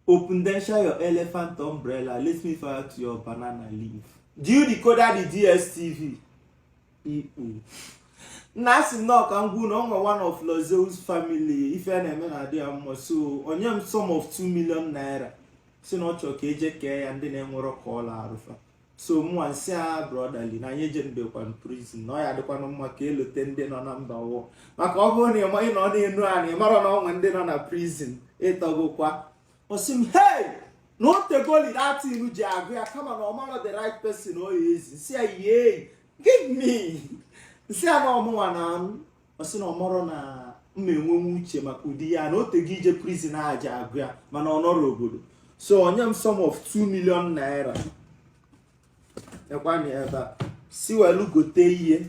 Opendensha your elephant umbrella let me fire to your banana leaf. Do you decoder the DSTV? Ikpu. nna asị m nọọ ka m gwa unu na ọ nwe one of Lozeus family ife a na-eme na-adị ya mma so o nye m sum of 2 million naira sị na ọ chọrọ ka eje kee ya ndị na-enwerọ ka ọla arụfa so mụnwa nsị ya brotherly na anyị ejenubekwanụ prison na ọ ya adịkwanụ mma ka elote ndị nọ na mba ụwa maka ọ bụrụ na ị nọ n'enu anị marọ na ọ nwe ndị nọ na prison ịtọgokwa ọ sị m hei na o tegoli that thing ji agụ ya kama na ọ marọ the right person ọ ya ezi nsị ya hei give me nsị ya na ọ mụnwa na anụ ọ sị na ọ marọ na m na-enwenwe uche maka ụdị ihe a na o tego ije prison a ji agụ ya mana ọ nọrọ obodo so o nye m sum of 2 million naira ekwani ebe a si welu gote ihe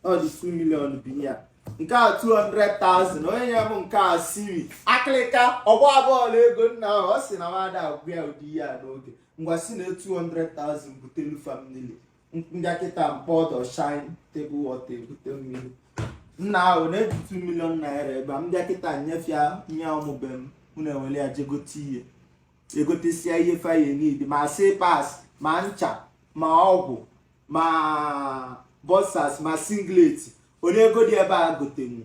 ọ dị 2 million bụ ya nke a 200,000 onye nye m nke a siri akịlịka ọgba bọọlụ ego nna ahụ ọ sị na m ada agwa ya ụdị ihe a n'oge ngwa si na 200,000 butelu family m bịa kịta mkpọ ọdọ shine table water ebute mmiri nna ahụ nee 2 million naira ebe a m bịa kịta nyefe ya nye ụmụ be m unu ewere ya jegote ihe egotesịa ihe fa ya need ma slippers ma ncha ma ọgwụ ma boxers ma singlet ole ego dị ebe a gotenwu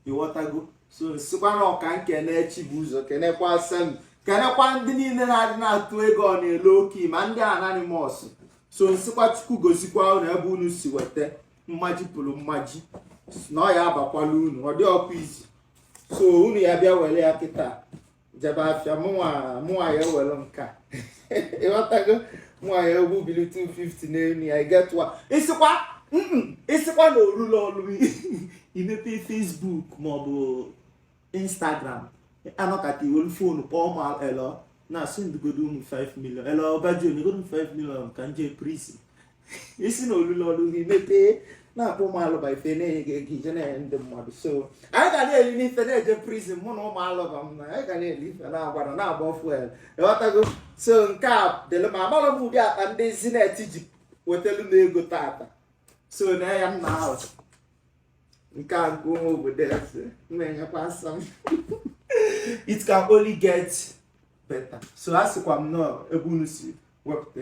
ịghọtago so nsịkwa nọọ ka nkene chi bu ụzọ kenekwa asa m kenekwa ndị niile na-adị na-atụ ego ọ na-ele oke ma ndị anonymous so nsịkwa Chukwu gọzikwa unu ebe unu si weta mmaji pụrụ mmaji na ọ ya abakwala unu ọ dịrọkwa easy so unu ya bịa were ya kịta jebe afịa mụnwa ya ewere nka ịghọtago mụnwa ya egbubili 250 n'elu ya igetụwa ị sịkwa ị sịkwa na orula ọrụ i mepe Facebook ma ọ bụ Instagram a nọkata i welu phone kpọọ ma hello nna sendịgodo m 5 million hello ọbaji nyegodo 5 million ka nje prison ị sị na o lulu ọrụ gị mepee na-akpọ ụmụ alọba fa na-enye gị ego i je na-enye ndị mmadụ so anyị ga na-eli ife na-eje prison mụ na ụmụ alọba m na anyị ga na-eli ife na-agwara na-agba fuel ịghọtago so nke a dịlụ ma amarọ m ụdị akpa ndị Zenith ji wetelu m ego tata so na ya nna ahụ nke a nke ụmụ obodo eze na-enyekwa asa m it can only get better so a sịkwa m nọọ ebe unu si wepụta